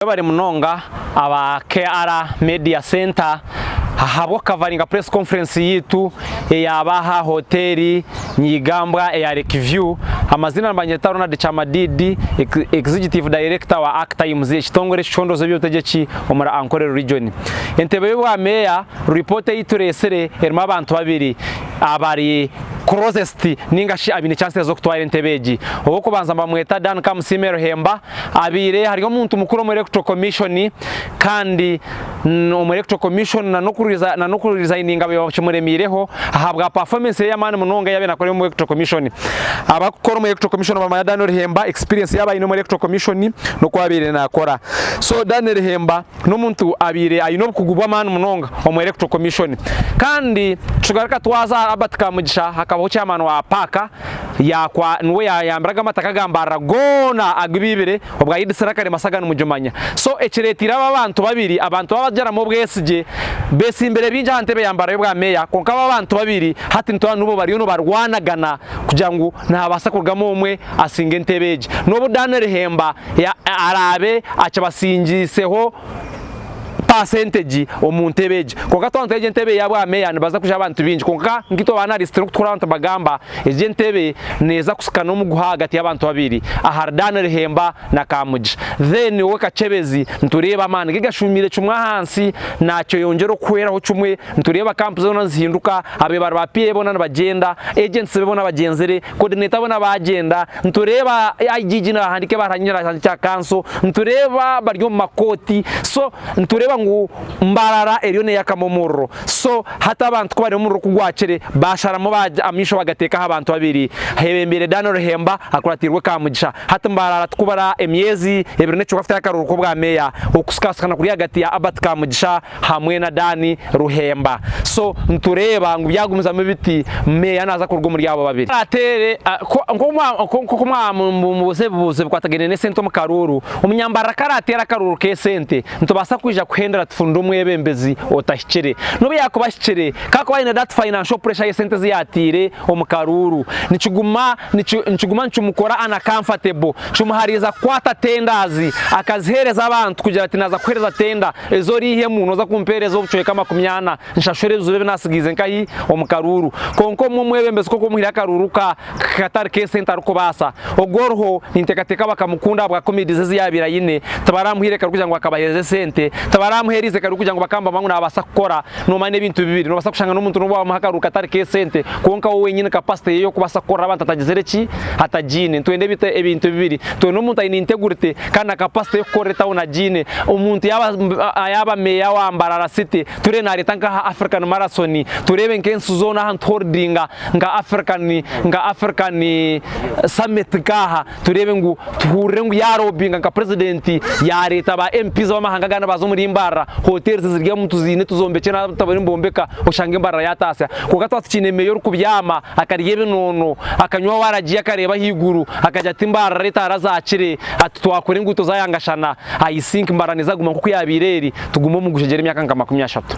Webare munonga aba KR Media Centre ahabwo coveringa press conference yaitu eyaba aha Hoteri Nyigambwa eya Lake View. Amazina nibanyeta Ronald Kyamadiidi, Executive Director wa Ak Times, ekitongore ekicondooza eby'obutegyeki omuri Ankorero Region. Entebe y'obwa Meeya, Report ei tureetsire erimu abantu babiri abari closest ninga shi abaine chances z'okutwara entebe egi. Ow'okubanza nibamweta Dan Kamusiime Ruhemba, Habaire hariho omuntu mukuru omu Electoral Commission kandi omu Electoral Commission na n'okurizaininga baiba bakimuremiireho ahabwa performance ye ey'amaani munonga eyaabaire naakora omu Electoral Commission. Abarikukora omu Electoral Commission nibamanya Daniel Hemba experience yaabaire aine omu Electoral Commission n'oku abaire naakora. So Daniel Hemba n'omuntu abaire aine obukugu bw'amaani munonga omu Electoral Commission. Kandi tugaruka twaza aha Albert Kamugisha hakabaho chairman wa Paaka Yaakwa niwe yaayambiraga amataka ga Mbarara goona agu ibiibire obu ayiditsire akarima saga nimugimanya. So ekireeteire aba abantu babiri abantu baaba bagyaramu obwesigye beetsimbire bingi aha ntebe ya Mbarara y'obwa meeya kwonka aba abantu babiri hati nitureeba ngu bariyo nibarwanagana kugira ngu nihabaasa kurugamu omwe atsinge entebe egi n'obu Daniel Hemba araabe akibatsingiitseho paasentegi omu ntebe egi. Kwonka twaba nitureeba egi entebe eyabwameeya nibaza kuja abantu baingi kwonka nkaitwe baanalisiti n'oku turikuraaba nitubagamba egi entebe neeza kusika n'omu guha ahagati y'abantu babiri ahari Dan Lihemba na Kamugi. Then owe Kakyebezi nitureeba amaani ge gashuumiire kimwe ahansi naakyeyongyera okuhweraho kimwe nitureeba kampu zoona nizihinduka, abeebare ba PA boona nibagyenda, agents be boona bagyenzire, Coordinator boona baagyenda, nitureeba IGG naahandiika ebaruha nyowe naagihandika aha kanso, nitureeba bari omu makooti, so nitureeba ngu Mbarara eriyo neeyakamu omuriro, so hati abantu ku bariyo omuriro ku gwakire baasharamu amaisho baagateeka aha bantu babiri aheebembeire Dan Ruhemba akuratiirwe Kamugisha, hati Mbarara tikubura emyezi ebiri n'ekikwafo etari akaruuru k'obwameeya okusikaasikana kuri ahagati ya Abert Kamugisha hamwe na Dan Ruhemba so nitureeba ngu byagumizamu biti meeya naaza kuruga omuri abo babiri. Ateere nk'oku mwamubuuza ebibuuzo ebikwatagaine n'esente omu karuuru, omunyambarara ku araateera akaruuru k'esente nitubaasa kwija kuhendera tufunire omwebembezi otahikire n'obu yaakuba ahikire ku arikuba aine that financial pressure y'esente ezi yaateire omu karuuru nikiguma nikiguma nikimukora uncomfortable kimuhariiza kukwata tenders akaziheereza abantu kugira ati naaza kuheereza tender Ezi oriihemu nooza kumpeereza obucweka makumi ana nshashure ebizura ebi naatsigiize nkahi omu karuuru. Kwonka omwe omwebembezi kw'oku omuhire akaruuru ka katari k'esente arikubaasa, ogu oriho ninteekateeka bakamukunda ahabwa comedy ze ezi yaabaire aine, tibaraamuhaire kare orikugira ngu akabaheereza esente, tibaraamuheeriize kare orikugira ngu bakaamubaza ngu naabaasa kukora. Noomanya n'ebintu bibiri, noobaasa kushanga n'omuntu n'obu waamuha akaruuru katari k'esente kwonka we wenyini capacity ye ey'okubaasa kukorera abantu atagizire ki, atagiine. Nitwenda ebintu bibiri, nitwenda omuntu aine integrity, kandi na capacity y'okukorera etown agiine. Omuntu yaaba yaaba Mayor wa Mbarara City, turiyo nareeta nk'aha African Marathon, tureebe nk'ensi zoona ahantu tu holdinga nka African nka African Summit nk'aha, tureebe ngu tuhurire ngu ya lobinga nka President yareeta ba MPs ab'amahanga agandi baaza omuri Mbarara, hotels ziri omu tuziine tuzombekye n'abu tibariyo nibombeka oshange Mbarara yataasya. Kwonka twaba tukyeine Mayor orikubyama, Akarya ebinoono, akanywa waaragiya akareeba ahaiguru, akagira ati mbaarira etaara zaakire, ati twakora enguuto zaayangashana, I think mbaarira neeza kuguma nk'oku yaabaire eri, tugume omu gushegyere emyaka nka makumi ashatu.